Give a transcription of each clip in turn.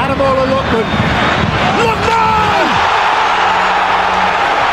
Ademola Lookman. Lookman!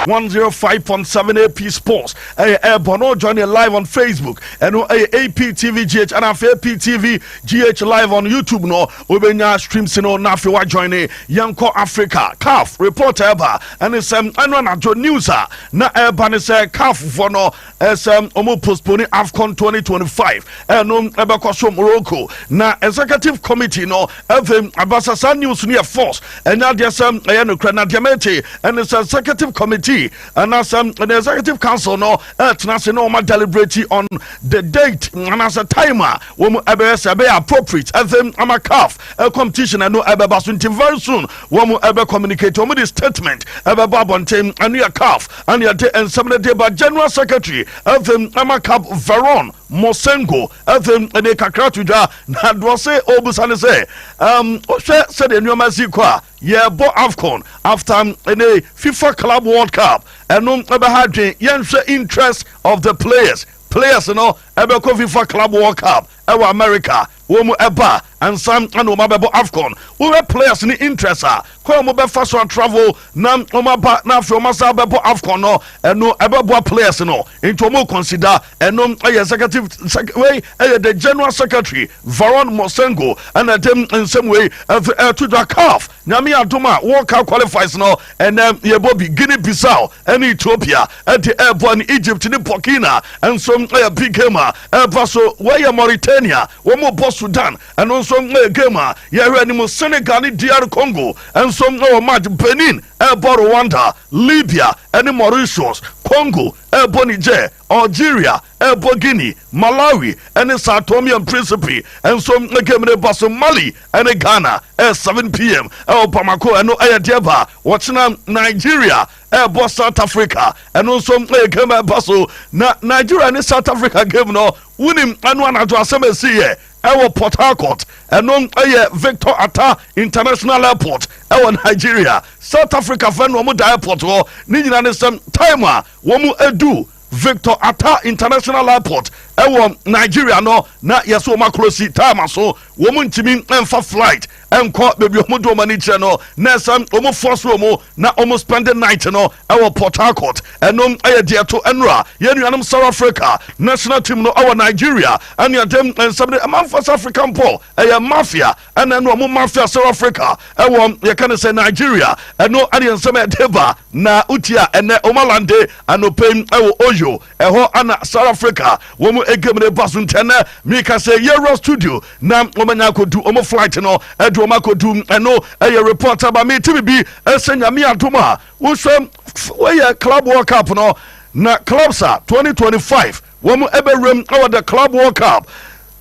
105.7 AP Sports. Hey, hey, Bono, join you live on Facebook. And no, hey, AP TV GH and after AP TV GH live on YouTube. No, we be now stream sino na fi wa join it. Yanko Africa, CAF report eba. And it's um, and when I do news, ah, na eba ni say CAF for no. ɛsɛ wɔn postpone afcon 2025 ɛno ɛbɛkɔ so morocco na executive committee no afei abasa saa news no yɛ force ɛnyɛ adeɛ sɛ ɛyɛ nokorɛ na deɛ mete ɛne sɛ executive committee anaasɛ ɛne executive council no ɛtena ase na wɔma deliberate on the date anaasɛ time a wɔn ɛbɛyɛ sɛ ɛbɛyɛ appropriate afei ama calf competition ɛno ɛbɛba so nti very soon wɔn ɛbɛ communicate wɔn de statement ɛbɛbɔ abɔnten ɛno yɛ calf ɛne yɛde nsɛm no de ba General Secretary ɛfɛ ama Cap Veron Mosengo ɛfɛ ɛne kakra to dwa na doɔ se ɔbusa ne sɛ um, ɔhwɛ sɛdeɛ nneɛma si kɔ a yɛbɔ AFCON after ɛne FIFA Club World Cup ɛno ɛbɛha adwen yɛnhwɛ interest of the players players no ɛbɛkɔ FIFA Club World Cup ɛwɔ America wɔ mu ɛba ansa na wɔn abɛbɔ Afcon wohwɛ players ne interest a kwan a wɔn bɛfa so atravel na wɔn aba na afei wɔn asa abɛbɔ Afcon no ɛno ɛbɛboa players no nti wɔn consider ɛno ɛyɛ executive sec wei ɛyɛ the general secretary Varon Mosengo ɛna ɛde nsɛm wei ɛto dwa CAF Nyame adom a World Cup Qualifiers no ɛnnɛ yɛbɔ bi, Guinea Bissau ɛne Ethiopia ɛde ɛɛbɔ ɛne Egypt ne Burkina nso ɛyɛ big game a ɛɛba so wei yɛ Mauritania wɔn rebɔ Sudan ɛno nso ɛyɛ game a yɛhwɛ anim Senegal ne DR Congo nso ɛwɔ match Benin ɛɛbɔ Rwanda Libya ɛne Mauritius Congo ɛɛbɔ Niger Algeria Ɛbɔ Guinea, Malawi ne São Tomé and Príncipe nso. Game no ba so Mali ne Ghana, ɛyɛ seven pm wɔ Bamako, ɛno yɛ deɛ ɛba ɔkyena. Nigeria ɛbɔ South Africa, ɛno nso yɛ game a ɛba so. Na Nigeria ne South Africa game no wonim ɛno anadwo asɛm a ɛsiiɛ ɛwɔ Port Harcourt, ɛno yɛ Victor Attah International Airport ɛwɔ Nigeria. South Africa fɛ no wɔn da airport hɔ, ne nyina ne sɛ time a wɔn ɛdu Victor Attah International Airport wɔ Nigeria no na yɛsɛ wɔn akorosi time so, wɔn ntumi mfa flight nkɔ baabi wɔn de wɔn ani kyerɛ no, na ɛsɛ wɔn force wɔn na wɔn spend night no wɔ Port Harcourt. Ɛno yɛ deɛ ɛto nnora. Yɛn nuanom South Africa national team no wɔ Nigeria ɛne ɛde nsɛm de ɛma mfa sɛ Africa mpo ɛyɛ mafia. Ɛna no ɔmo mafia South Africa ɛwɔ yɛka no sɛ Nigeria ɛno ɛna nsɛm ɛde ba na wotia ɛnɛ omalande anɔpɛ yi ɛwɔ Oyo ɛhɔ ɛna South Africa wɔn game no ba so nti ɛnɛ mika sɛ yɛwura studio na wɔn anya akɔdu ɔmo flight no ɛde ɔmo akɔdu ɛno ɛyɛ report aba me ti bibi ɛsɛ nyame adom a wohwɛ wɔyɛ club world cup no na clubs a 2025 wɔn ɛbɛwuram ɛwɔ the club world cup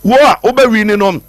wɔ a wobɛwi ni no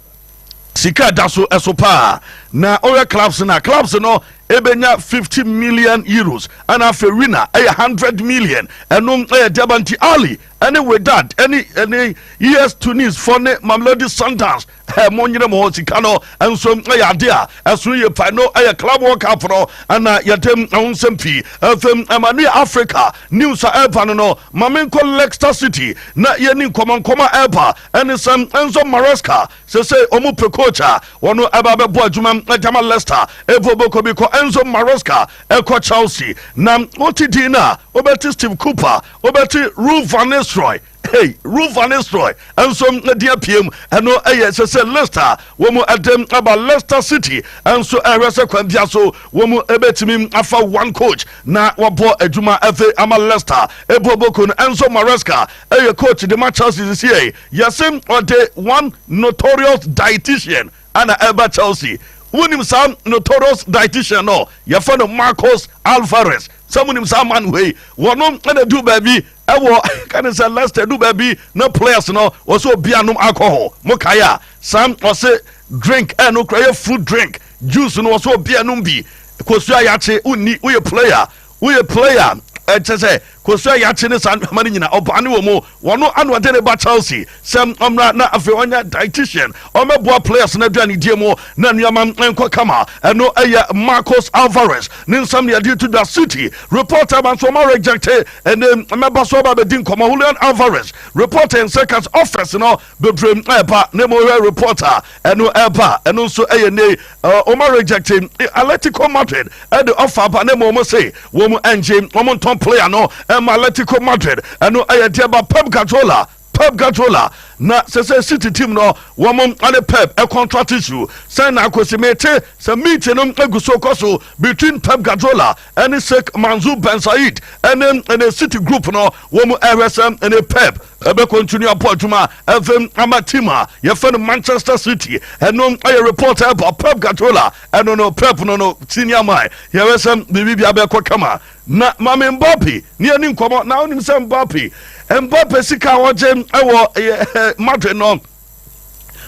sika a ɛda so so paa na ɔyɛ clubs na clubs no ɛbɛnya 50 million euros ɛna afei wina ɛyɛ 100 million ɛnom ɛyɛ deɛba nti ali ɛne wedad ɛne ɛne es tunis fɔ ne mamelodi sundowns ɛmo nyere mo hɔ sika no nso ɛyɛ ade a ɛsono yɛ pa no ɛyɛ club world cup no ɛna yɛde ɛho nsɛm pii ɛfam ɛma ne africa news a ɛba no no ma menkɔ leicester city na yɛni nkɔmɔnkɔmɔ ɛba Ɛne sɛ Enzo Maresca sesei wɔn pɛ coach a wɔn ɛba bɛbɔ adwuma ɛde ama Leicester. Evo bɔkɔ bi kɔ Enzo Maresca ɛkɔ Chelsea na wote din no a wobɛte Steve Cooper, wobɛte Ruud van Nistelrooy, hey Ruud van Nistelrooy nso din apue mu. Ɛno ɛyɛ sesei Leicester a wɔn ɛde aba Leicester City nso ɛrehwɛ sɛ kwan bia so wɔn ɛbɛtumi afa one coach na wɔabɔ adwuma ɛde ama Leicester. Evo bɔkɔ no Enzo Maresca Ɛyɛ coach de ma Chelsea sesiɛ yi. Yɛse ɔde one notorious dietitian ana ɛba Chelsea. Wonim saa notorious dietitian no? Yɛfrɛ no Marcos Alvarez. Sɛ monim saa man wei, wɔno na du baabi ɛwɔ kane sɛ Leicester du baabi na players no wɔsɛ obi anom alcohol. Mo kae a, saa ɔse drink ɛno kura yɛ fruit drink, juice no wɔsɛ obi anom bi. Kosua yakye wonni, woyɛ player Woyɛ player eh, kyɛ sɛ kosua yakye ne saa nneɛma no nyina ɔbaa ne wɔ mu wɔno ano ɔde ne ba Chelsea sɛ ɔmmra na afei ɔnyɛ dietitian ɔmmɛboa players no aduanedie mu na nneɛma nkɔ kama ɛno ɛyɛ Marcos Alvarez ne nsɛm ne yɛde to dwa City reporter ma nso ɔma rejecte ɛne mɛba so ɔba bɛdi nkɔmmɔ Julian Alvarez reporter nsɛ kas office no Bebree ɛɛba na mmom hwɛ report a ɛno ɛɛba a ɛno nso ɛyɛ nnɛ yi wɔn arejecte Atletico Madrid ɛde offer aba na mmom wɔn se wɔn ɛngye wɔn ntɔn player no ɛma Atletico Madrid ɛno ɛyɛ deɛ ɛba Pep Guardiola Pep Guardiola na sɛ sɛ City team no wɔn ɛne Pep ɛcontract issue sɛn na akɔsi mete sɛ meeting no ɛgu so kɔ so between Pep Guardiola ɛne Sheikh Mansour Ben Said ɛne ɛne City group no wɔn ɛhwɛ sɛ ɛne Pep Ɛbɛ continue apo adwuma ɛfɛm ama team a yɛfɛ no Manchester City ɛno ɛyɛ report a ɛba Pep Guardiola ɛno no Pep no no senior man yɛwɛ sɛ biribi bi abɛkɔ kama na mame Mbappe ne yɛni nkɔmɔ na wonim sɛ Mbappe Mbappe sika a ɔgye ɛwɔ ɛyɛ Madrid no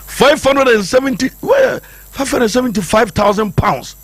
570 wɔyɛ 575,000 pounds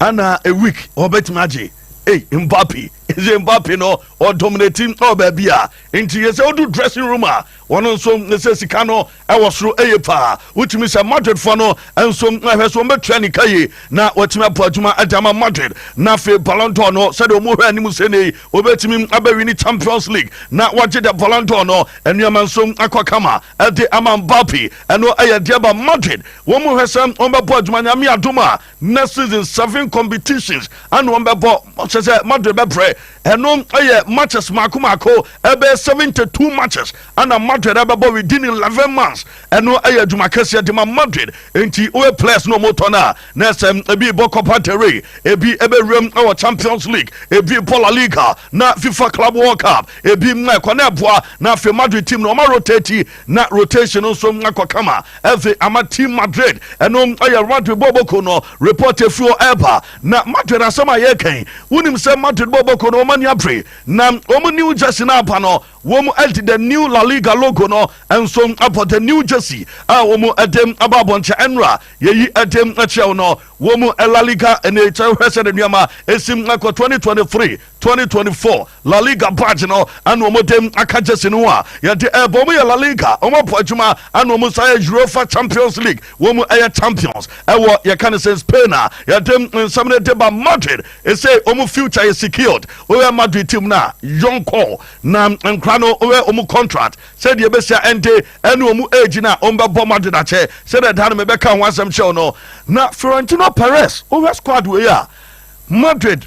ana a week ɔbɛtumi agye Hey, Mbappe, is Mbappe no or dominating or baby a Nti yɛ sɛ odu dressing room a wɔn nso ne sɛ sika no ɛwɔ soro eye paa. Wotumi sɛ Madrid foɔ no nso hwɛ sɛ wɔn bɛ tua nika yie na watumi abɔ adwuma de ama Madrid. Na afei Ballon d'Or no sɛdeɛ wɔn hwɛ anim sɛ nei obetumi abɛ wini Champions League na wagye the Ballon d'Or no nneɛma nso akɔ kama de ama Mbappe. Ɛno ɛyɛ deɛ ba Madrid wɔn hwɛ sɛ wɔn bɛbɔ adwuma Nyame adom a na season seven competitions ɛna wɔn bɛ bɔ kyɛ sɛ madrid bɛ brɛ ɛno ɛyɛ matches mako mako ɛbɛ seventy two matches ɛna madrid ɛbɛ bɔ within eleven months ɛno ɛyɛ adwuma kɛseɛ de ma madrid nti wɔyɛ players na wɔn tɔ no a na ɛsɛ ebi bɔ copa del rey ebi ɛbɛ wuram ɛwɔ champions league ebi bɔ la liga na fifa club world cup ebi mma ɛkɔ na ɛboa na afei madrid team na wɔn arotate Na rotation no nso akɔ kama ɛdze ama team Madrid. Ɛno yɛ Madrid bɔɔl bɔkɔ no report efi hɔ ɛreba. Na Madrid asɛm a yɛreka yi, wonim sɛ Madrid bɔɔl bɔkɔ no wɔn ani abere. Na wɔn new jersey no aba no, wɔde the new La Liga logo no nso abɔ the new jersey a wɔde aba abɔnkyɛ. Ɛnora yɛyi de kyerɛ wo no, wɔn La Liga ne kyɛ hwɛ sɛdeɛ nneɛma esi kɔ twenty twenty three. Twenty twenty four La Liga badge no ɛna wɔn de aka gyesi no ho a yɛde ɛbɔ wɔn yɛ La Liga wɔn abɔ adwuma ɛna wɔn san yɛ Europa Champions League wɔn mu ɛyɛ champions ɛwɔ yɛka ne sɛ Spain a yɛde nsɛm no de ba Madrid ɛsɛ wɔn future yɛ secured wɔyɛ Madrid team na young call na nkora no wɔyɛ wɔn contract sɛdeɛ ɛbɛsi a ɛnde ɛne wɔn age na wɔn bɛbɔ Madrid akyɛ sɛdeɛ ɛda no mebɛka ho asɛm kyɛw no na Florentino Perez wɔyɛ squad wɔyɛ a Madrid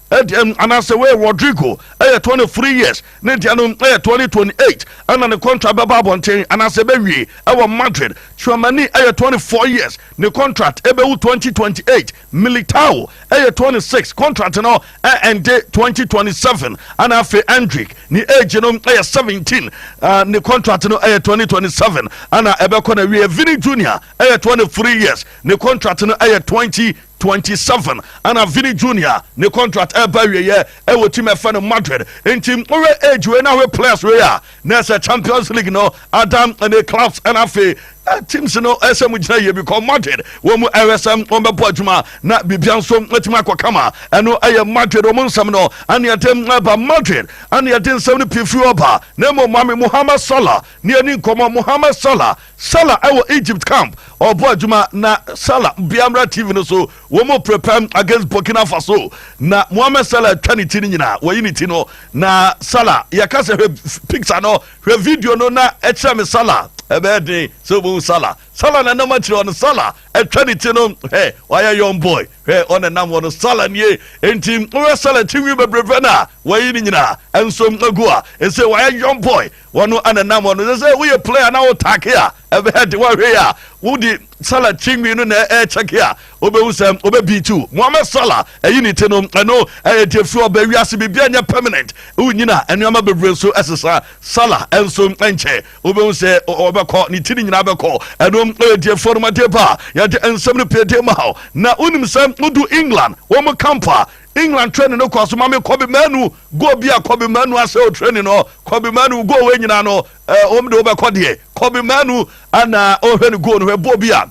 Deɛ no anaasɛ wei Rodrigo yɛ twenty three years ne deɛ no yɛ twenty twenty eight ɛna ne contract bɛba abɔnten anaasɛ ɛbɛwie ɛwɔ Madrid. Tchouameni yɛ twenty four years ne contract ɛbɛwu twenty twenty eight. Militao yɛ twenty six contract no ɛɛnde twenty twenty seven ɛna afei Endrick ne age no yɛ seventeen ne contract no yɛ twenty twenty seven ɛna ɛbɛkɔ na wie. Vini Junior yɛ twenty three years ne contract no yɛ twenty twenty seven ɛna Vini Junior ne contract ɛba awieɛ ɛwɔ team ɛfɛ no Madrid nti wohwɛ age wei na wohwɛ players wei a na ɛsɛ Champions League no adam ne clubs ɛna afei teams no ɛsɛ mu gyina yie because Madrid wɔn mu ɛhwɛ sɛ wɔn bɛbɔ adwuma na biribia nso ɛtumi akɔ kama ɛno ɛyɛ Madrid wɔn nsɛm no ɛne ɛde ɛba Madrid ɛne ɛde nsɛm no pii firi ɔba na mmom Mohamed Salah ne ɛni nkɔmɔ Mohamed Salah Salah ɛwɔ Egypt camp ɔbɔ adwuma na Salah biamra TV no so wɔn prepare against Burkina Faso na Mohamed Salah atwa ne ti no nyinaa wɔyi ne ti no na Salah yɛka sɛ hwɛ picture no hwɛ video no na ɛkyerɛ me Salah ɛbɛyɛ den sɛ wɔn Salah Salah na nam akyerɛ ɔno Salah atwa ne ti no hɛ ɔyɛ young boy hwɛ ɔna nam wɔn Salah nie nti wɔyɛ Salah ti nwi bebrebe na wɔyi ne nyinaa nso agu a ɛsɛ wɔyɛ young boy Wɔn na nam wɔn so sɛ woyɛ play anaa wo taake a ɛbɛyɛ de wɔhwɛ a wodi Salah kyingwi no na ɛkyɛke a wobɛhu sɛ wobɛ beat wo Mohamed Salah ɛyi ne ti no ɛno ɛyɛ deɛ fi ɔbɛ wiase biribiara nyɛ permanent wonyina nneɛma bebree so ɛsesa Salah ɛnso nkyɛ wobɛhu sɛ ɔbɛkɔ ne ti no nyinaa bɛkɔ ɛno ɛyɛ deɛ fi ɔnomadeɛ ba a yɛde nsɛm no pɛɛdeɛ ma na wonim sɛ wodu England wɔn camp a England training no kɔɔ so ma me Kobe Manu goal bi a Kobe Manu asɛ o training no Kobe Manu goal wei nyinaa no eh, wɔn de wɔbɛkɔ deɛ Kobe Manu ana ɔhwɛ ne goal no hwɛ bɔɔ bi a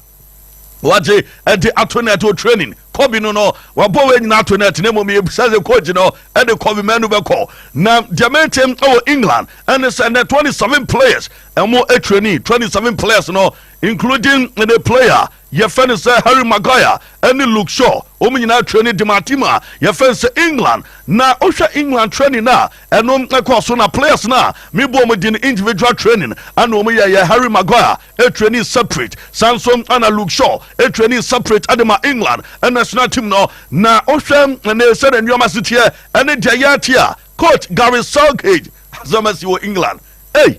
wagye ɛde ato net o training Kobe no no wabɔ wei nyinaa ato net na mmom yɛbisa sɛ coach no ɛde Kobe Manu bɛkɔ na deɛ mente wɔ England ɛne sɛ nɛ 27 players ɛmo training 27 players no including the player Yɛfɛ no sɛ Harry Maguire ɛne Luke Shaw, wɔn nyinaa twerɛ ne Dimatim a yɛfɛ no sɛ England. Na wohwɛ England training no a ɛno ɛkɔɔ so na players no a me bɔ wɔn din no individual training ɛna wɔn yɛ yɛ. Harry Maguire ɛtrainee separate saa nso ɛna Luke Shaw ɛtrainee separate ɛde ma England national team no. Na wohwɛ ɛnɛ sɛdeɛ nneɛma si teɛ ɛne deɛ yɛte a coach Gareth Southgate asɛm asi wɔ England ei!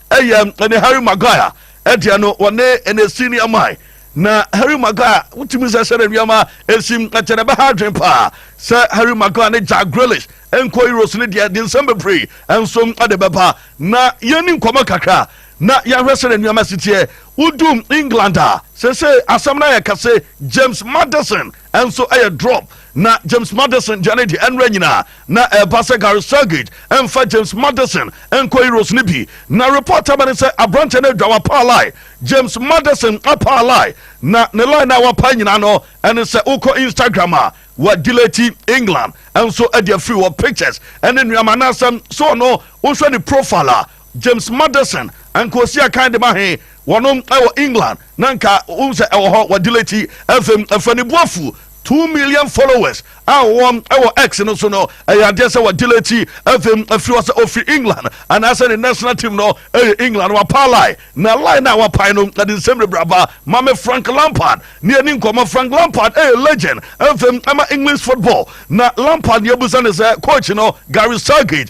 Ɛyɛ ɛne Harry Maguire ɛdeɛ no wɔne ɛne senior man na Harry Maguire wotumi sɛ sɛ nneɛma ɛsim ɛkyɛ na ɛbɛha adwene paa sɛ Harry Maguire ne Jack Grealish nkɔ Euros no deɛ de nsɛm bebree nso ɛde bɛba na yɛni nkɔmɔ kakra na yɛahwɛ sɛ nneɛma siteɛ wodum England a sɛ sɛ asɛm no ayɛ kɛse James Maddison nso yɛ drop na James Maddison gya no di. Ɛnora nyinaa na ɛba sɛ Gary Southgate mfa James Maddison nkɔ Euros no bi. Na report aba ne sɛ aberante no adwa wapaa line. James Maddison apaa line na ne line a wapaa nyinaa no ɛne sɛ wokɔ Instagram a wa delete England nso ɛde afiri wɔ pictures ɛne nneɛma anaasɛ so ɔno wohwɛ ne profile a James Madison, anka osi akan de ma he? Wɔnom wɔ England na anka wohu sɛ ɛwɔ hɔ wɔ Dile ti. Afei ɛfa ne bu afu. Two million followers a wɔwɔ wɔ X no so no, ɛyɛ adeɛ sɛ wɔ Dile ti. Afei ɛfiri hɔ sɛ ɔfiri England anaasɛ ne national team no yɛ England. Wapaa line, na line no a wapae no de nsɛm bebree aba ma me. Frank Lampard ne yɛdi nkɔmmɔ. Frank Lampard yɛ legend afei ma English football. Na Lampard deɛ yɛbisa ne sɛ coach no Gary Southgate,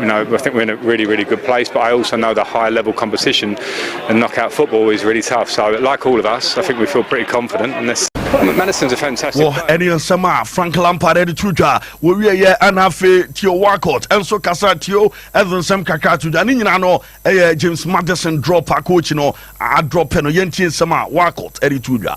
You know, I think we're in a really, really good place, but I also know the high level competition and knockout football is really tough. So, like all of us, I think we feel pretty confident. And this Madison's a fantastic. Well, any nsɛm a Frank Lampard ɛde to dwa wɔwie yɛ ɛna afei Theo Walcott ɛnso kasa Theo ɛde nsɛm kakra to dwa ne nyinaa no ɛyɛ James Madison drop a coach no adrɔpɛ no yɛntie nsɛm a Walcott ɛde to dwa.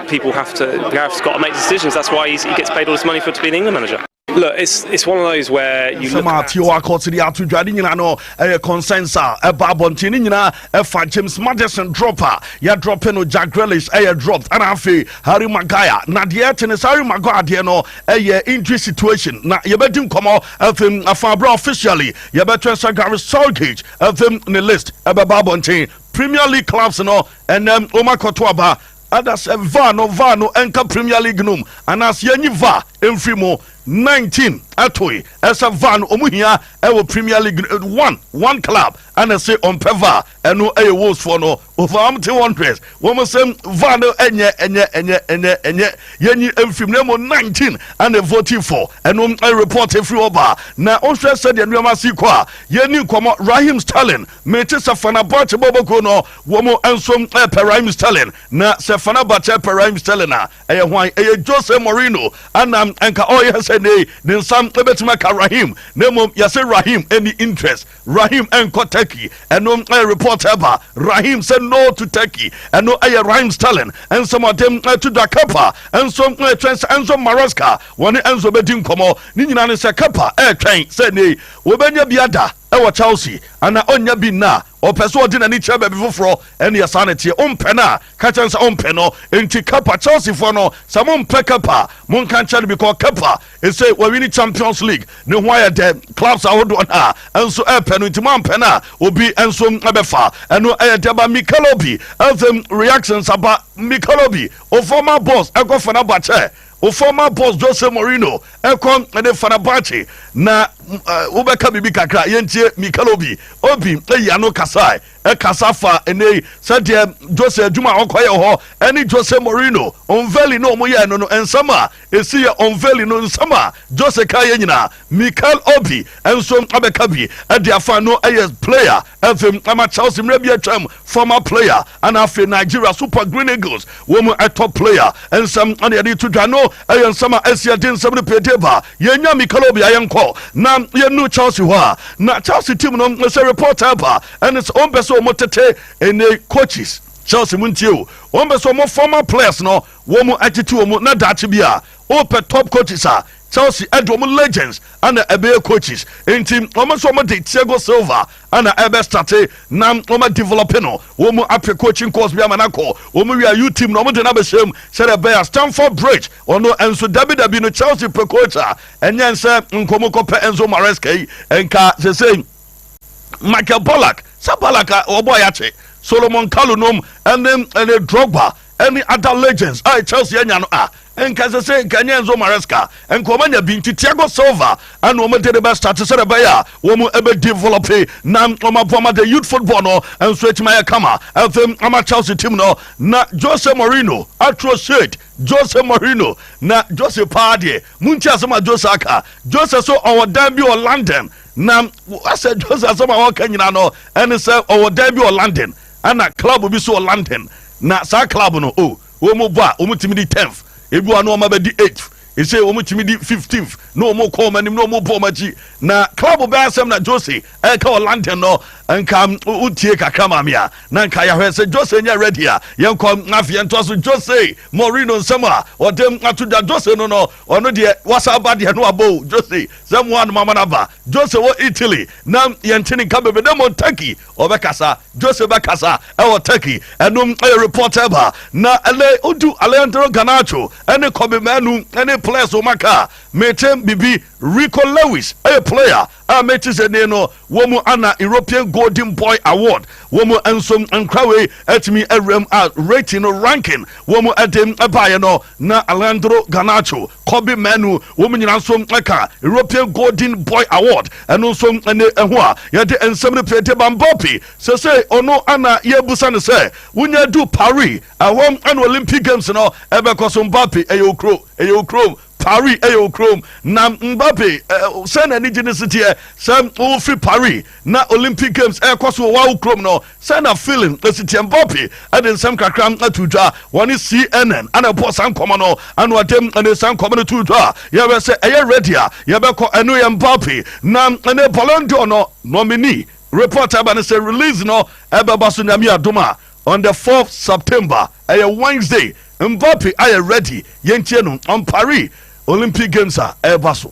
People have to, Gareth's got to make decisions, that's why he gets paid all this money for to be an England manager. Look, it's, it's one of those where you look at... Tio akɔsiri ato dwa ne nyinaa no ɛyɛ concerns a ɛba abɔnten ne nyinaa ɛfa James Madison drop a yɛdrɔpe no Jack Grealish ɛyɛ dropped ɛna afei Harry Maguire na deɛ ɛte ne sɛ Harry Maguire deɛ no ɛyɛ injury situation na yɛbɛdi nkɔmmɔ afei afa abira officially yɛbɛtwɛn sɛ Gary Southgate afei ne list ɛbɛba abɔnten Premier League clubs no ɛnɛm wɔn akɔto aba Ada sɛ var no var no nka Premier League nom anaasɛ yɛnyi var mfiri mu. Nineteen ɛtoe ɛsɛ var no ɔmo hia ɛwɔ Premier League no. One one club ɛna ɛse ɔmpɛ var ɛno ɛyɛ Wolves foɔ no. Over ɔmo te Wanderers wɔn se var no ɛnyɛ ɛnyɛ ɛnyɛ ɛnyɛ ɛnyɛ yɛnyi mfiri mu na mmom nineteen ɛna ɛvote for ɛno. Report ɛfiri hɔ baa na ɔnhwɛ sɛdeɛ nnoɔma si kɔ a. Yɛnni nkɔmɔ Raheem Sterling mete sɛ Fenerbahce bɔɔbɔkuo no Wɔn nso repɛ Raheem Sterling, na sɛ Fenerbahce repɛ Raheem Sterling a, ɛyɛ hwan? Ɛyɛ Jose Mourinho, ɛna nka ɔreyɛ sɛ nnɛ yi ne nsa bɛtumi aka Raheem, na mmom yɛse Raheem nni interest, Raheem nkɔ Turkey. Ɛno yɛ report a ɛba, Raheem say no to Turkey. Ɛno yɛ Raheem Sterling nsɛm a ɔde reto dwa. Kepa nso retwɛn sɛ Enzo Maresca wɔne Enzo bɛdi nkɔmmɔ. Ne nyinaa ne sɛ Kepa retwɛn sɛ nnɛ yi wɔbɛnya bi ada wɔ Chelsea anaa ɔnnya bi nnɛ a, Ɔpɛ sɛ ɔde n'ani kyerɛ baabi foforɔ. Ɛnneɛ saa na ɛteɛ. Wompɛ no a, ka kyerɛ no sɛ wompɛ no. Enti Kepa, Chelseafoɔ no, sɛ mompɛ Kepa a, monka nkyerɛ no because Kepa ɛsei wawini Champions League, ne ho ayɛ dɛ, clubs ahodoɔ no ara nso repɛ no, enti moampɛ no a, obi nso bɛfa. Ɛno yɛ dɛ ba Mikel Obi. Afei reactions aba, Mikel Obi, wo former boss, ɛkɔfa no aba kyɛ. Wo former boss Jose Mourinho ɛkɔ ne Fenerbahce na wo bɛka biribi kakra yɛntie Mikel Obi Obi ɛyi ano kasae ɛkasa fa ɛnɛ yi sɛdeɛ Jose adwuma a ɔkɔ yɛ hɔ ɛne Jose Mourinho unveiling no ɔmo yɛ no no nsɛm a ɛsi yɛ unveiling no nsɛm a Jose ka yɛ nyinaa Mikel Obi ɛnso abɛka bi ɛde afa no ɛyɛ player Afei ama Chelsea mmerɛ bi atwam former player ana afei Nigeria Super Green Eagles wɔn mu top player nsɛm ɛna yɛde to dwa no ɛyɛ nsɛm a ɛsi ɛde nsɛm no pɛdie ba yɛnya Mikel Obi ayɛ nkɔ na yɛnu Chelsea hɔ a na Chelsea team no sɛ reporter ɛba ɛne sɛ wɔn pɛ sɛ wɔn tete ɛne coaches Chelsea mu ntie o wɔn pɛ sɛ wɔn former players no wɔn atete wɔn na daakye bi a Wopɛ top coaches a, Chelsea ɛde wɔn legends na ɛbɛyɛ coaches, nti wɔn nso wɔn de Thiago Silva na ɛbɛ starte na wɔn a develope no, wɔn apɛ coaching course bi ama no akɔ, wɔn wie a youth team no wɔn de no abɛhyɛ mu sɛdeɛ ɛbɛyɛ a Stamford Bridge ɔno nso dabi dabi no Chelsea pɛ coach a ɛnyɛ nsɛ nka wɔn kɔ pɛ Enzo Maresca yi nka sesei Michael Ballack, sɛ Ballack a wɔbɔ a yɛakye Solomon Kalou nom ɛne ɛne Drogba. Any other legends a Chelsea anya no a nka ɛsɛ sɛ nka ɛnyɛ Enzo Maresca nka wɔn anya bi nti Thiago Silva ɛna wɔn de de bɛ start sɛ ɛbɛyɛ a wɔn ɛbɛ develop na wɔn aboa ma the youth football no nso etuma yɛ kama ɛfɛ ama Chelsea team no na Jose Mourinho atro shade Jose Mourinho na Jose paa deɛ mu nti asɛm a Jose aka Jose so ɔwɔ dan bi wɔ London na asɛ Jose asɛm a wɔka nyina no ɛne sɛ ɔwɔ dan bi wɔ London Ɛna club bi so wɔ London na saa club no oh wɔn bɔ a wɔn tumi di tenth ebi wa no wɔn abɛdi eighth ese wɔn tumi di fifteenth na wɔn kɔ wɔn anim na wɔn bɔ wɔn akyi na club bɛn asɛm na Jose ɛka wɔ London no nka wotie kakra maame a na nka yɛahwɛ sɛ Jose nyɛ ready a yɛn kɔ afei yɛn to so Jose Mourinho nsɛm a ɔde ato dwa Jose no no ɔno deɛ wasa aba deɛ no abɔ Jose sɛ mo anoma ma no aba Jose wɔ Italy na yɛn te ne nka bebe dɛ Montaki Ɔbɛkasa, Jose bɛkasa wɔ Turkey. Ɛno yɛ report a ɛba na ɛnɛ odu Alejandro Garnacho ne Kobbie Mainoo ne players wɔn aka. Mete biribi, Rico Lewis yɛ player a mete sɛ nie no wɔ mu ana European Golden Boy Award wɔ mu nso nkra wei atumi awura mu a rating no ranking wɔ mu ɛde baeɛ no na Alejandro Garnacho Kobe Manu, wɔn nyinaa nso ka European Golden Boy Award ɛno nso ne ɛho a yɛde nsɛm no pie de ba Mbappe sesei ɔno ana yɛbusa no sɛ wonya du Paris ɛhɔ ɛna Olympic Games no ɛbɛkɔ so Mbappe ɛyɛ okuro ɛyɛ okurom Paris ɛyɛ okurom na Mbappe sɛ na anigye no si teɛ sɛ wofiri Paris Ná Olympic Games rekɔ so wɔ Wau kurom no, sɛn na Phil ne Cynthia Mbappe de nsɛm kakra too dwa? Wɔne CNN na ɛbɔɔ saa nkɔmmɔ no. Anwuadem ne saa nkɔmmɔ no too dwa. Yɛhwɛ sɛ ɛyɛ ready a, yɛbɛkɔ. Ɛno yɛ Mbappe na ne Ballon d'Or no nominee. Report a ɛba ne sɛ release no bɛba so Nyame adom a on the fourth September, ɛyɛ Wednesday. Mbappe ayɛ ready, yɛntie no on Paris Olympic Games a ɛreba so.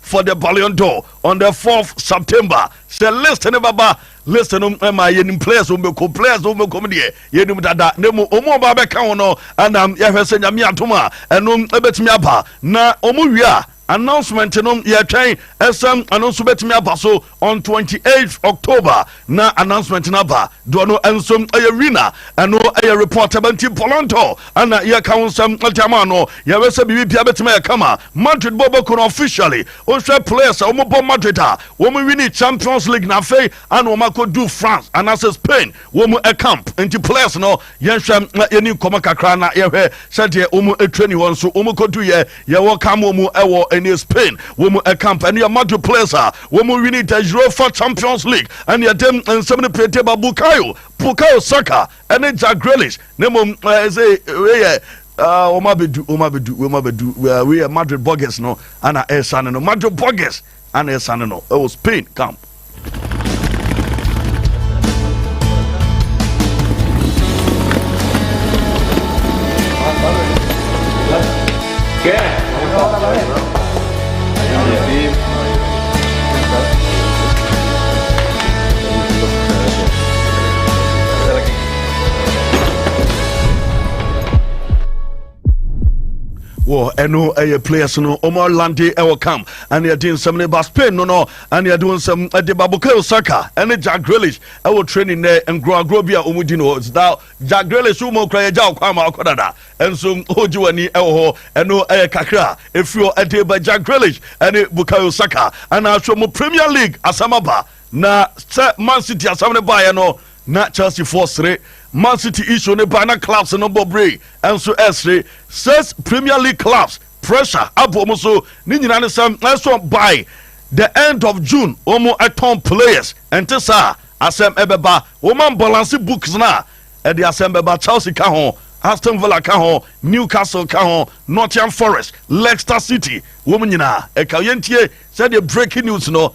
for the Ballon d'Or on the 4th September sɛ list ne bɛba list no ma yɛnim players wɔn bɛkɔ players wɔn bɛkɔ mu deɛ yɛnim dada na mu wɔn a wɔabɛka ho no ɛna yɛhwɛ sɛ nyame atom a ɛno ɛbɛtumi aba na wɔn wie a announcement no yɛtwɛn ɛsɛm ɛno nso bɛtumi aba so On twenty eight October na announcement no aba doɔ no nso ɛyɛ winner ɛno ɛyɛ report ɛbɛ nti Polanto ɛna yɛka ho nsɛm ɛde ama no yɛwɛ sɛ biribi bia bɛtumi ayɛ kama Madrid bɔ bɛku no officially wohwɛ players a wɔn bɔ Madrid a wɔn winning Champions League na afei ana wɔn akɔdu France anaasɛ Spain wɔn camp nti players no yɛnhwɛ na yɛni nkɔmɔ kakra na yɛhwɛ sɛdeɛ wɔn training wɔn so wɔn kɔdu yɛ yɛwɔ kam wɔn ɛwɔ ɛne Spain wɔn camp ɛne yɛ Madrid players a wɔn wini the Europa Champions League ɛne ɛdɛm nsɛm no pie teba Bukayo Bukayo Saka ɛne Jack Grealish ne mo ɛsɛ ɛyɛ wɔn abɛdu wɔn abɛdu wɔn abɛdu wei yɛ Madrid Burgers no ɛna ɛsan no Madrid Burgers Ana yɛsane no ɛwɔ Spain camp. wɔ ɛno ɛyɛ players no wɔn alande ɛwɔ cam ɛne ɛde nsɛm no ba spain no no ɛne ɛde nsɛm ɛde ba bukayo saka ɛne jack grealish ɛwɔ training nɛ nkorɔagorɔ bi a wɔn di no da jack grealish wɔn okura yɛ gya ɔkwan ma ɔkɔ dada ɛnso ɔgye wɔn ani ɛwɔ hɔ ɛno ɛyɛ kakra efiri hɔ ɛde ba jack grealish ɛne bukayo saka ɛna ahwɛ mu premier league asɛm aba na sɛ man city asɛm no baeɛ no Na Chelsea foɔ sere Man City issue no ba na clubs no bɔ bere nso ɛresere says Premier League clubs pressure abɔ wɔn so ne nyinaa ne sɛ ɛso by the end of June wɔn ɛtɔn players ɛnte saa asɛm ɛbɛba wɔn ambalanse books na ɛde asɛm bɛba Chelsea ka ho Aston Villa ka ho Newcastle ka ho Nottingham Forest Leicester City wɔn nyinaa ɛka yɛntie sɛdeɛ breaking news no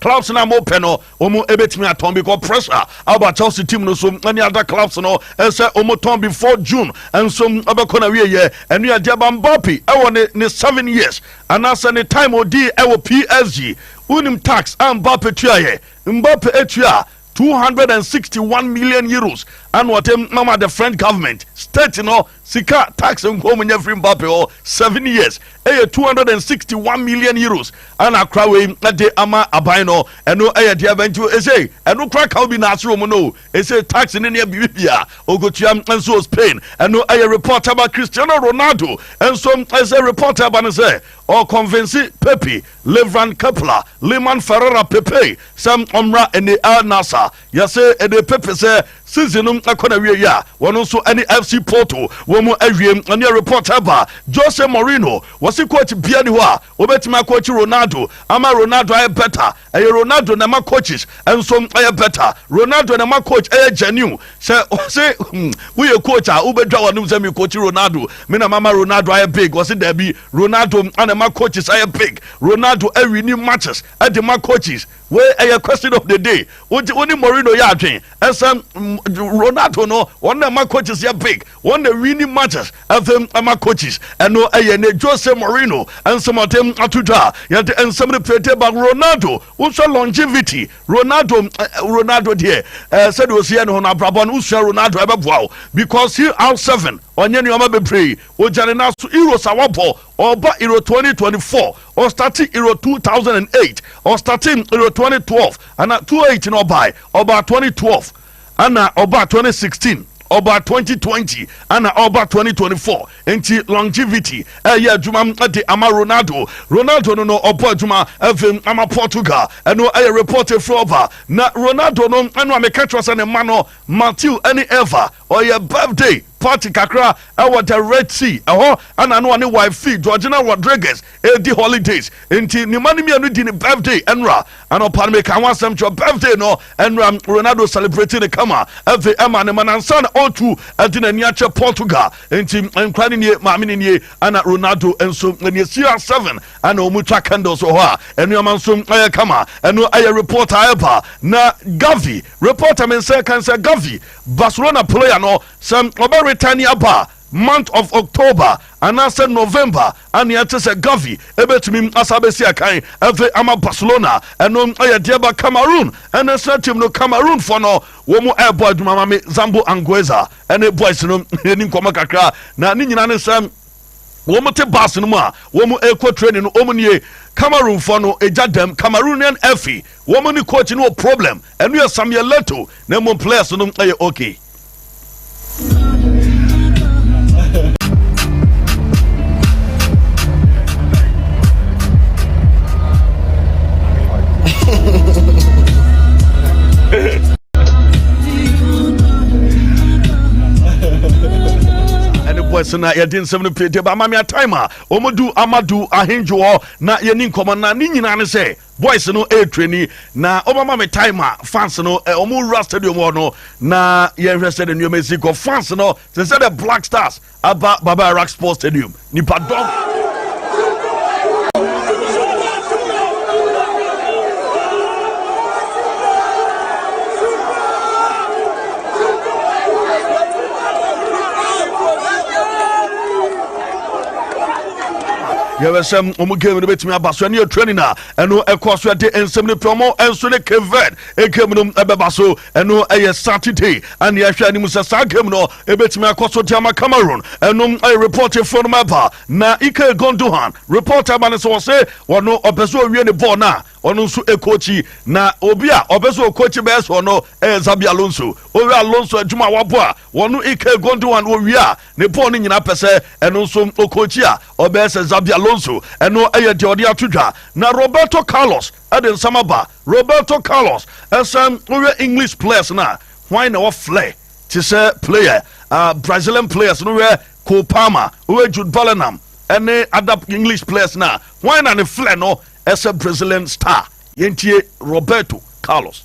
Clubs no a wɔpɛ no, wɔbɛtumi atɔn bi kɔ pressure a aba Chelsea team no so ne ada clubs no sɛ wɔtɔn before June nso bɛkɔ n'awieeɛ. Ɛno yɛ deɛ ɛba Mbappe wɔ ne ne seven years anaasɛ ne time a ɔdii wɔ PSG. Wonim tax a Mbappe tuaeɛ? Mbappe tuaa two hundred and sixty one million euros ɛna ɔte mama the french government state no sika tax nkɔm nyɛ firi mbappe hɔ seven years ɛyɛ two hundred and sixty one million euros ɛna akora wei ɛde ama aban no ɛno ɛyɛ deɛ ɛbɛn ti ɛsɛ ɛno kora kaw bi na ase wɔn no ɛsɛ tax ne nea biribi bia okotua nso spain ɛno ɛyɛ report ɛba cristiano ronaldo nso ɛsɛ report ɛba ne sɛ ɔkɔnfɛnsi pepe Levran Kepler, Lyman Ferreira pepee sɛ ɔmmra ɛne Al Nassr. Yɛse ɛde pepe sɛ season no kɔ n'awieɛ a, wɔn nso ɛne FC Porto wɔn awie. Ɛneɛ report ɛba Jose Mourinho, wɔse coach biara nni hɔ a ɔbɛtumi akɔɔkyi Ronaldo ama Ronaldo ayɛ better. Ɛyɛ Ronaldo na ɛma coaches nso yɛ better. Ronaldo na ɛma coach yɛ genuine. Sɛ wɔse woyɛ coach a wobɛdwa w'anom sɛ merekɔɔkyi Ronaldo, me na mama Ronaldo ayɛ big? Wɔse daabi. Ronaldo na ɛma coaches ayɛ big. Ronaldo awini matches de ma coaches. Wei ɛyɛ question of the day. Wogye wo ne Mourinho yɛ adwen sɛ Ronaldo no wɔn na ɛma coaches yɛ big. Wɔn na awini matches ɛde ɛma coaches. Ɛno ɛyɛ ne Jose Mourinho nsɛmɔden ato dwa a yɛde nsɛm no pie de ba. Ronaldo wosua longevity. Ronaldo Ronaldo deɛ ɛɛ sɛdeɛ ɔsi yɛ ne ho no abrabɔ no wosua Ronaldo ɛbɛboa wo because CR7 ɔnyɛ nneɛma bebree Ogyare na so Euro sa wɔbɔ ɔba Euro twenty twenty four ɔstate Euro two thousand and eight ɔstate Euro twenty twelve ana two eight na ɔbae ɔba twenty twelve ana ɔba twenty sixteen ɔba twenty twenty ana ɔba twenty twenty four nti longevity ɛyɛ adwuma de ama Ronaldo Ronaldo no no ɔbɔ adwuma ɛfɛ ama Portugal ɛno ɛyɛ report efiri ɔba na Ronaldo no ɛno a meka kyerɛ sɛ ne mma no Matthew ɛne Eva Ɔyɛ birthday party kakra wɔ the Red Sea, ɛhɔ na na ɔne wife fi Georgina Rodriguez redi holidays, nti ne mma no mmienu di ne birthday nnora anɔpa no. Meka ho asɛm kyerɛ wo, birthday no nnora Ronaldo celebrate ne kama ɛve ɛma ne mma no ansa na ɔretu ɛde n'ani akyɛ Portugal, nti nkora no nie, maame no nie ɛna Ronaldo nso nie. Cia 7 ɛna wɔn twa candles wɔ hɔ a nnoɔma nso ɛyɛ kama, ɛno ɛyɛ report a ɛba na Gavi report a me nsa ɛka ne sɛ Gavi Barcelona player no sɛ ɔbɛ retani aba month of October anaasɛ November a nea ɛte sɛ Gavi ɛbɛtumi asa abɛsi akan afei ama Barcelona ɛno ɛyɛ deɛ ba Cameroon ɛna sra team no Cameroon fɔ no wɔn ɛɛbɔ adwuma ma me Zambo Angueza ɛne boys no ɛni nkɔmɔ kakra na ne nyina ne sɛ Wɔte bus no mu a wɔrekɔ training no, wɔn nie, Cameroonfoɔ no gya dɛm, Cameroonian Effie, wɔn ne coach no wɔ problem, ɛno yɛ Samuel Leto, na mmom players no yɛ okay. ɛne boys na yɛde nsɛm no pie deba ama me atime a ɔmadu amadu ahendwo hɔ na yɛni nkɔmmɔ na ne nyinaa ne sɛ boys no ɛretrani na ɔbɛma me time a fans no ɔmo wura stadium hɔ no na yɛnhwɛ sɛ de nneɛma ɛsi kɔ fans no te sɛ the black stars Aba Baba Iraq Sports Stadium nipa dɔm. yɛbɛ sɛ ɔmo game no bɛtumi aba so ɛne yɛ training a ɛno ɛkɔ so ɛde nsɛm no pɛ ɔmo ɛnso ne keved game no ɛbɛba so ɛno ɛyɛ saturday ɛne ɛhwɛ anim sɛ saa game no Ebetumi akɔ so de ama Cameroon nom repɔɔtefoɔ nom aba na Ilkay Gundogan repɔɔte ama no sɛ ɔse ɔno ɔpɛ sɛ ɔwie ne bɔɔl no a ɔno nso ɛkɔɔkyi na obi a ɔpɛ sɛ ɔkɔɔkyi bɛyɛ sɛ ɔno ɛyɛ Xabi Alonso ɔhwɛ Alonso adwuma a wabɔ a ɔno Ilkay Gundogan ɔwie a ne bɔɔl no nyinaa pɛ sɛ ɛno nso ɔkɔɔkyi a ɔbɛyɛ sɛ Xabi Alonso ɛno ɛyɛ deɛ ɔde ato dwa na Roberto Carlos ɛde nsɛm aba Roberto Carlos ɛsɛ wohwɛ English players no a hwan na wɔflɛ te sɛ player a Brazilian players no yɛ Cole Palmer, woyɛ Jude Bellingham ɛne other English players no a wɔn na ne flɛ no ɛsɛ Brazilian star yɛntie Roberto Carlos.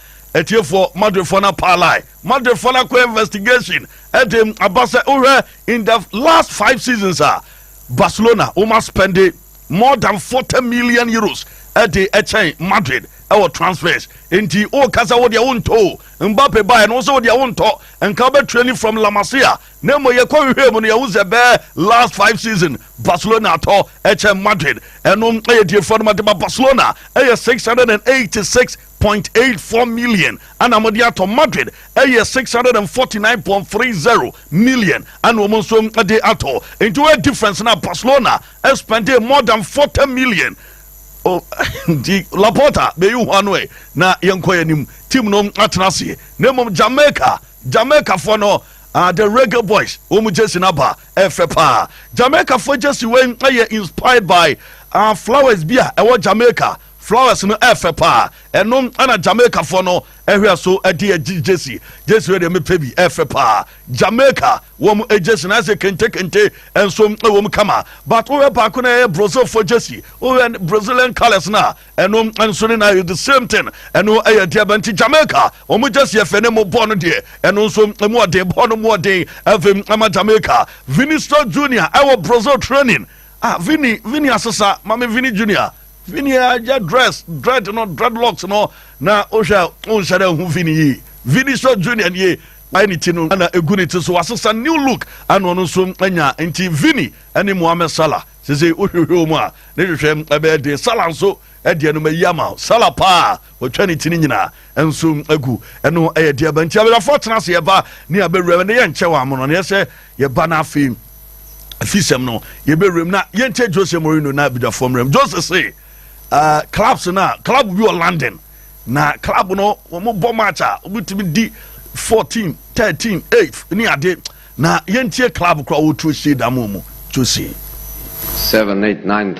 Atiefoɔ, Madridfoɔ no apaalae, Madridfoɔ no akɔ investigation de aba sɛ wohwɛ in the last five seasons a Barcelona woma spende more than 40 million euros de kyɛn Madrid wɔ transfers. Nti woka sɛ wodeɛ wontɔ o, Mbappe baeɛ no wo sɛ wodeɛ wontɔ, nka wobɛtrani from La Masia, na mmom yɛkɔ hwehwɛɛ mu no yɛhu sɛ bɛɛ last five season Barcelona atɔ kyɛn Madrid. Ɛno yɛ atiefoɔ no ma de ba Barcelona yɛ 686 point eight four million ɛna wɔde atɔ Madrid ɛyɛ six hundred and forty nine point three zero million ɛna wɔn nso ɛde atɔ nti wɔyɛ difference na Barcelona ɛspɛnde more than forty million o oh, nti Laporta bɛyi ho ano ɛ na yɛn kɔ yɛn anim team no atena aseɛ na mmom Jamaica Jamaica fo no uh, the reggae boys wɔn jersey naba ɛfɛ paa jamaica fo jersey wei ɛyɛ inspired by uh, flowers bi a ɛwɔ jamaica Flowers no ɛfɛ paa ɛno na Jamaica foɔ no ɛhwɛ so ɛde agye gyesi gyesi wei deɛ mepɛ bi ɛfɛ paa Jamaica wɔn gyesi na ɛsɛ kente kente ɛnso ɛwɔm kama but wohwɛ baako na ɛyɛ Brazil foɔ gyesi wohwɛ Brazilian colours na ɛno nso ne na the same thing ɛno ɛyɛ deɛ bɛ nti Jamaica wɔn gyesi ɛfɛ ne mo bɔɔ no deɛ ɛno nso ɛmu ɔden bɔɔ no mu ɔden ɛfɛ ɛma Jamaica Vinicius Junior ɛwɔ Brazil training ah Vini Vini asesa maame Vini Junior. Me nua yɛ dress dread no dreadlocks no na wohwɛ a wonhyɛ dɛ ho Vini yie Vinicius Junior nie wayɛ ne ti no na egu ne ti so wasesa new look ana ɔno nso anya nti Vini ɛne Mohamed Salah sese wohwehwɛ wɔn a ne hwehwɛ ɛbɛyɛ den Salah nso ɛdeɛ no mayi ama Salah paa Wɔtwa ne ti no nyinaa nso gu. Ɛno yɛ deɛ ɛba nti awerɛfoɔ tena ase yɛba ne abɛwura ne yɛnkyɛ wɔ amono no yɛsɛ yɛba no afei afisɛm no yɛbɛwura mu na yɛnkyɛ Jose Mourinho na abidwafoɔ mmerɛm Jose se uh, clubs no a club bi wɔ London na club no wɔn bɔ match a wɔbɛtumi di 14 13 8 ne ade na yɛntie club koraa wɔtuo hyɛ da mu mu Jose 7 8 9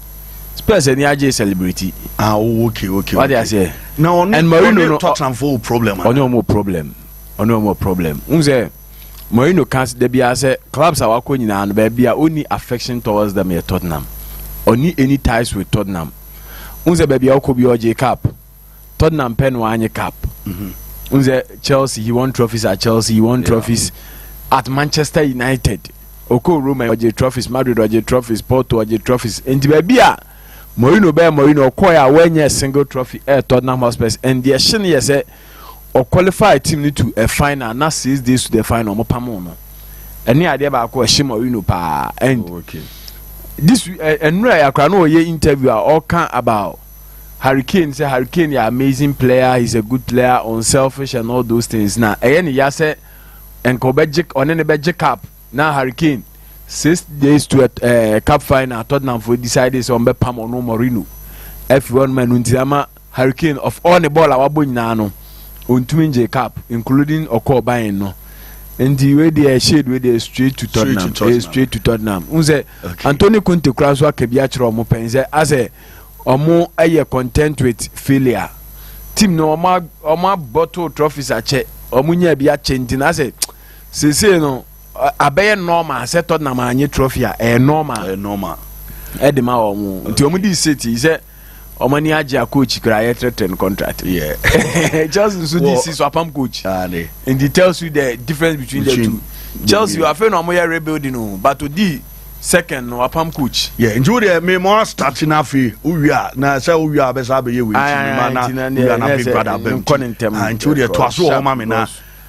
Spurs ani agye celebrity. Ah, oh, okay, okay. Wadi okay. aseɛ. Na ɔne and Mourinho no Tottenham fo problem. Ɔne ɔmo problem. Ɔne ɔmo problem. N sɛ Mourinho kan sɛ dabi asɛ clubs a wakɔ nyinaa no baabi a ɔni affection towards them yɛ Tottenham. Ɔni any ties with Tottenham. N sɛ baabi a ɔkɔ bi ɔgye cup. Tottenham pɛ no wanye cup mm-hmm. nze Chelsea he won trophies at Chelsea he won yeah. trophies at Manchester United oko Roma ɔgye trophies Madrid ɔgye trophies Porto ɔgye trophies nti baabi a Mourinho bɛyɛ Mourinho ɔkɔɛ a wɔnyɛ single trophy ɛyɛ eh, Tottenham Hotspur and deɛ ɛhyɛ no yɛ sɛ ɔqualify team no to a final na six days to the final ɔmo pam no ɛne adeɛ baako ɛhyɛ Mourinho paa and oh, okay. this ɛnura eh, yakora no ɔyɛ interview a ɔka about. Harry Kane sɛ Harry Kane yɛ amazing player, he's a good player, unselfish and all those things. Na ɛyɛ ne ya sɛ nka ɔbɛgye ɔne ne bɛgye cap na Harry Kane six days to ɛɛ eh, eh, cap final Tottenham fo decide sɛ wɔn bɛpam ɔno Mourinho afi hɔ nom ɛnu nti ama Harry Kane of all ne bɔɔl a wabɔ nyinaa no ɔntumi ngye cap including ɔkɔɔ Bayern no nti wei deɛ shade wei deɛ straight to Tottenham straight to Tottenham n sɛ Anthony Conte kura so aka bi akyerɛ ɔmo pɛn sɛ asɛ. Ɔmo yɛ content with failure team no ɔmo ɔmo abɔto trophies akyɛ ɔmo nyaa bi akyɛ nti na sɛ sese no abɛyɛ normal sɛ Tottenham anye trophy a ɛyɛ normal ɛyɛ normal ɛde ma ɔmo nti ɔmo di sit yi sɛ ɔmo ani agye a coach kura yɛ tɛrɛtɛrɛ no contract yeah Chelsea nso di sit so apam coach nti tells you the difference between, between the two Chelsea afei na ɔmo yɛ rebuilding o but odi. second no apam coach. Yeah, nti wo deɛ me mo astate na afei wowie a na sɛ wowie a bɛsa abɛyɛ wei nti mema na wowie a na big brother abam nti wo deɛ toa so wɔ hɔ ma me na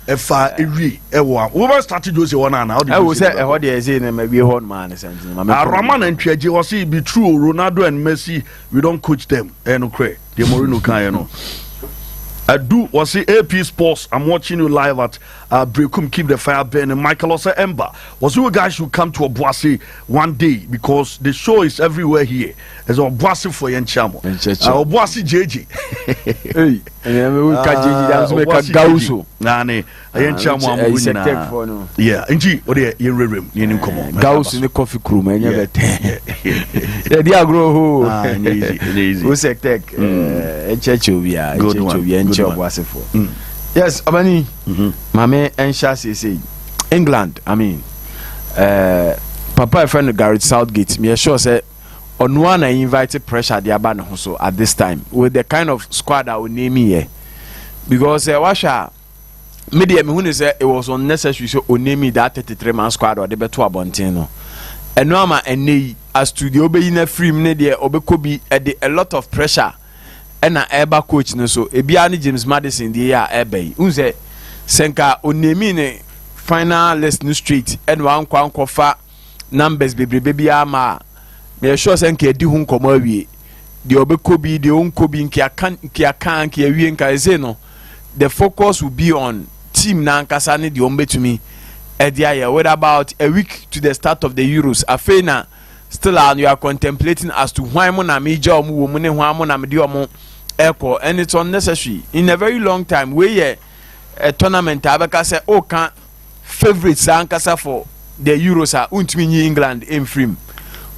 ɛfa ewie ɛwɔ a wobɛ state jose hɔ no ana wode ɛwɔ sɛ ɛhɔ deɛ ɛsɛ na mawie hɔ no maa ne sɛ nti mame arama na ntwiagye wɔ se be true ronaldo and messi we don't coach them ɛyɛ nokorɛ deɛ morino kaeɛ no adu wɔ se ap sports i'm watching you live at Ah Brekum keep the fire burning Michael ɔsɛ Emba ɔsɛ you guys should come to Obuasi one day because the show is everywhere here ɛsɛ Obuasi fo yɛn kyɛn mo ah Obuasi jeje ɛyi ɛyɛ mi wo ka jeje dan so mi ka gawuso naani yɛn kyɛn mo amu nyinaa yeah nti o de yɛn rere mu yɛn ni nkɔmɔ gawuso ni kɔfi kurum ɛnyɛ bɛ tɛ yɛ di agorɔ ho o sɛ tɛk ɛkyɛkyɛ obiara ɛkyɛkyɛ obiara ɛnkyɛ Obuasi fo. yes ɔbɛni mhm. maame ɛnhyɛ aseɛ sɛ yi england i mean uh, papa ɛfrɛ no garrett southgate meyɛ sure sɛ ɔno a na invite pressure de aba ne ho so at this time with the kind of squad a ɔname yɛ because uh, wahwɛ a me deɛ mehu ne sɛ it was unnecessary sɛ ɔname that 33 man squad ɔde bɛto abɔnten no ɛno ama ɛnɛ yi astudio bɛyi no afiri mu ne deɛ ɔbɛkɔ bi ɛde a lot of pressure na ɛreba coach no so, ebiara ne James Maddison deɛ yi a ɛreba yi. Wohu sɛ, sɛ nka onaming ne final list no straight ɛna wankɔ ankɔfa numbers bebrebe bi ama a, na yɛ sure sɛ nka yɛdi ho nkɔmmɔ awie. Deɛ ɔbɛkɔ bi, deɛ ɔnkɔ bi, nka yɛaka nka yɛaka nka yɛawie nka ɛsei no, the focus will be on team no ankasa ne deɛ wɔbɛtumi ɛde ayɛ with about a week to the start of the Euros. Afei na Still a you are contemplating as to hwan mo na megya wɔn wɔ mu ne hwan mo na mede wɔn ɛkɔ and it's unnecessary in a very long time wei yɛ a tournament a bɛka sɛ o ka favourites ankasa for the Euros a wontumi nyi England mfiri mu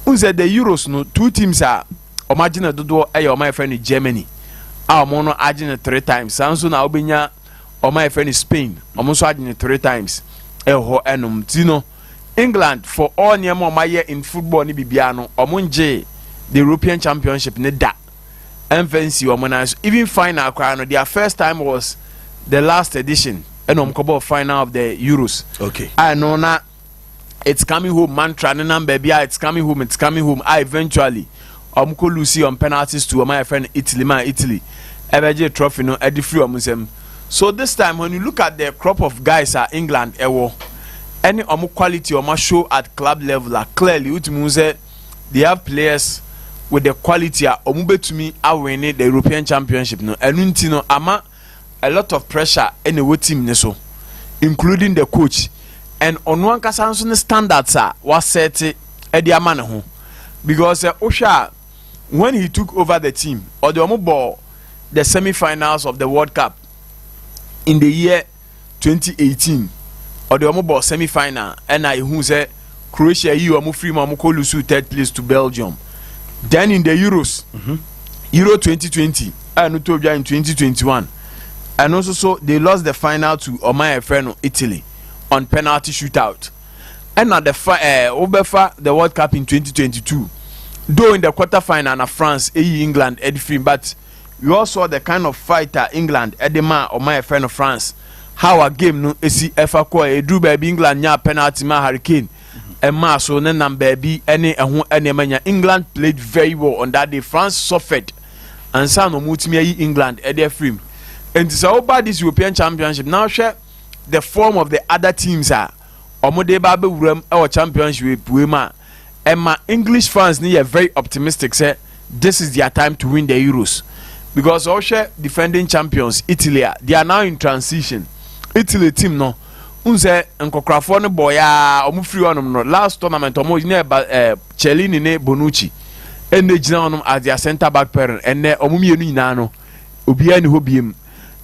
n sɛ the Euros no two teams a wɔn agye no dodoɔ ɛyɛ wɔn a yɛfrɛ no Germany a wɔn no agye no three times saa nso na wobɛnya wɔn a yɛfrɛ no Spain wɔn nso agye no three times ɛwɔ hɔ ɛnom ti no. England for all nneɛma ɔmo ayɛ in football ne biribiara no ɔmo ngyee the European Championship ne da ɛmfa nsi ɔmo nan so even final koraa no their first time was the last edition ɛna ɔmo kɔbɔɔ final of the Euros okay. a ɛno na it's coming home mantra ne nam baabi a it's coming home it's coming home a eventually Wɔkɔ luusii wɔn pɛn artist tour ma yɛfrɛ no Italy ma Italy ɛbɛgyee trophy no ɛde firi wɔn nsam. So this time when you look at the crop of guys a England ɛwɔ ɛne wɔn quality wɔn ashow at club level a clearly wotumi hu sɛ they have players with the quality a wɔbɛtumi awene the European championship no ɛno nti no ama a lot of pressure na ɛwɔ team no so including the coach and ɔno ankasa nso ne standards a wasɛte de ama ne ho because sɛ wohwɛ a when he took over the team ɔde wɔn bɔɔ the semi-finals of the World Cup in the year twenty eighteen ɔde wɔn bɔɔ semi final ɛna ehu sɛ Croatia yi wɔn firi mu wɔn kɔ lusu third place to Belgium then in the Euros mm -hmm. Euro twenty twenty a ɛno to dwa in twenty twenty one ɛno nso so they lost the final to ɔman a yɛfrɛ no Italy on penalty shootout ɛna the fa ɛɛ wobɛfa the World Cup in twenty twenty two though in the quarter final na France eyi England ɛde firi but. We all saw the kind of fight a England de maa ɔman a yɛfrɛ no France. How a game no si fa kɔe. Eduru baabi England nyaa penalty maa Harry Kane ɛmaa so ne nam baabi ne ɛho nneɛma nya. England played very well on that day. France suffered ansa na wɔtumi ayi England de afiri mu. Nti sɛ woba this European Championship na wohwɛ the form of the other teams a wɔde ba abɛwura mu wɔ championship wei mu a ɛma English fans no yɛ very optimistic sɛ this is their time to win the Euros because ɔhwɛ defending champions Italy a they are now in transition Italy team no n sɛ nkɔkorafoɔ no bɔɔ yɛ a wɔn firi hɔnom no last tournament wɔn nyina ɛba ɛɛ eh, Cellini ne Bonucci ɛnna gyina hɔnom as their centre back pairing ɛnna wɔn mmienu nyinaa no obiara ni hɔ biem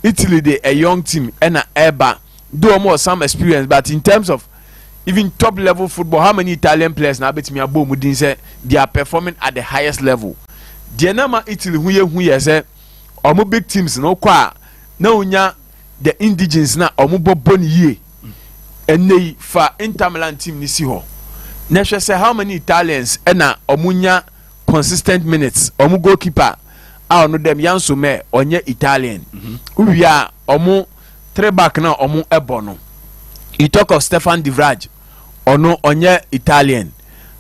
Italy de a young team ɛna ɛba. though wɔn wɔ some experience but in terms of even top level football how many Italian players na abɛtumi abɔ wɔn din sɛ they are performing at the highest level deɛ na ma Italy ho yɛ hu yɛ sɛ wɔn big teams na wɔkɔ a na wɔnya the indigens na wɔn bɔ bɔ ne yie ɛnna yi fa Inter Milan team ne si hɔ na hwɛ sɛ how many Italians ɛna wɔn nya consistent minutes wɔn goalkeeper a ɔno dɛm Yanso Mɛ ɔnyɛ Italian mhm. wowia wɔn. three back na ɔmo ɛbɔ no you talk of Stefan de Vrij ɔno ɔnyɛ Italian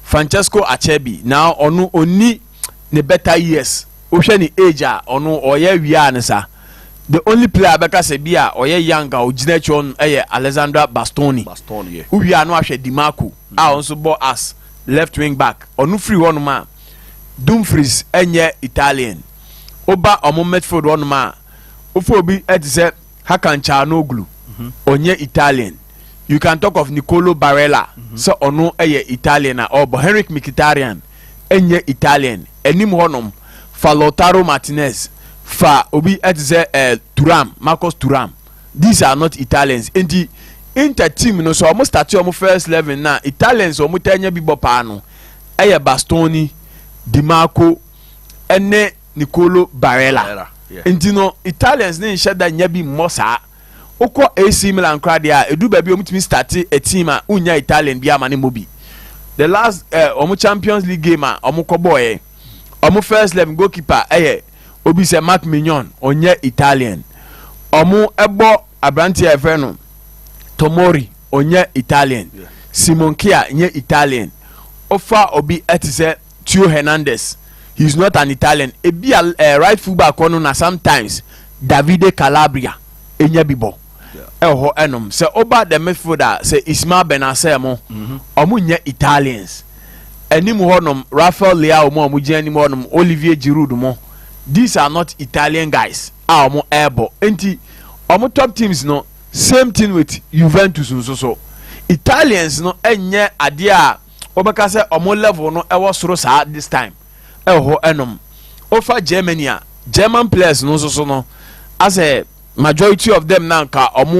Francesco Acerbi na ɔno ɔnni ne better years wohwɛ ne age a ɔno ɔyɛ awia a ne sa the only player a bɛka sɛ bi a ɔyɛ young a ɔgyina akyi hɔ no ɛyɛ Alessandra Bastoni Bastoni yeah. wowie a no ahwɛ Di Marco a ɔno nso bɔ as left wing back ɔno firi hɔnom a Dumfries ɛnyɛ Italian woba ɔmo midfield hɔnom a wofa obi te sɛ hakan chaanoglu mhm. ɔnyɛ italian you can talk of nicolo barella mhm. sɛ ɔno yɛ italian a ɔbɔ henrik mkhitaryan ɛnyɛ italian anim hɔnom fa lautaro martinez fa obi te sɛ eh, turam marcus turam these are not italians nti inter team no sɛ ɔmo starte ɔmo first eleven na italians ɔmo tɛ nya bi bɔ paa no ɛyɛ bastoni dimarco ɛne Nicolo Barella. Nti no Italians ne nhyɛ da nya bi mmɔ saa. Wokɔ AC Milan koraa deɛ a, ɛduru baabi a wɔtumi starte a team a wonnya Italian biara ma no mmɔ bi. The last eh, wɔn Champions League game a wɔkɔbɔɔeɛ, wɔn first eleven goalkeeper yɛ obi sɛ Marc Mignon, ɔnyɛ Italian. Wɔbɔ aberanteɛ a yɛfrɛ no Tomori, ɔnyɛ Italian. Simon Kjaer nyɛ Italian. Wofa obi te sɛ Theo Hernandez, He is not an Italian, ebia eh, right fullback hɔ no na sometimes Davide Calabria enya bi bɔ ɛwɔ hɔ ɛnom. Sɛ ɔba the midfield a, sɛ Ismael Bennacer mo, wɔn mhm. nyɛ Italians. Anim hɔ nom, Rafael Leao mo a wɔn gyina anim hɔ nom, Olivier Giroud mo, these are not Italian guys a wɔn ɛrebɔ. Nti, wɔn top teams no, same thing with Juventus nso so. Italians no ɛnyɛ adeɛ a wobɛka sɛ ɔmo level no ɛwɔ soro saa this time ɛwɔ hɔ ɛnom wofa Germany a German players no nso so no asɛ majority of them na nka ɔmo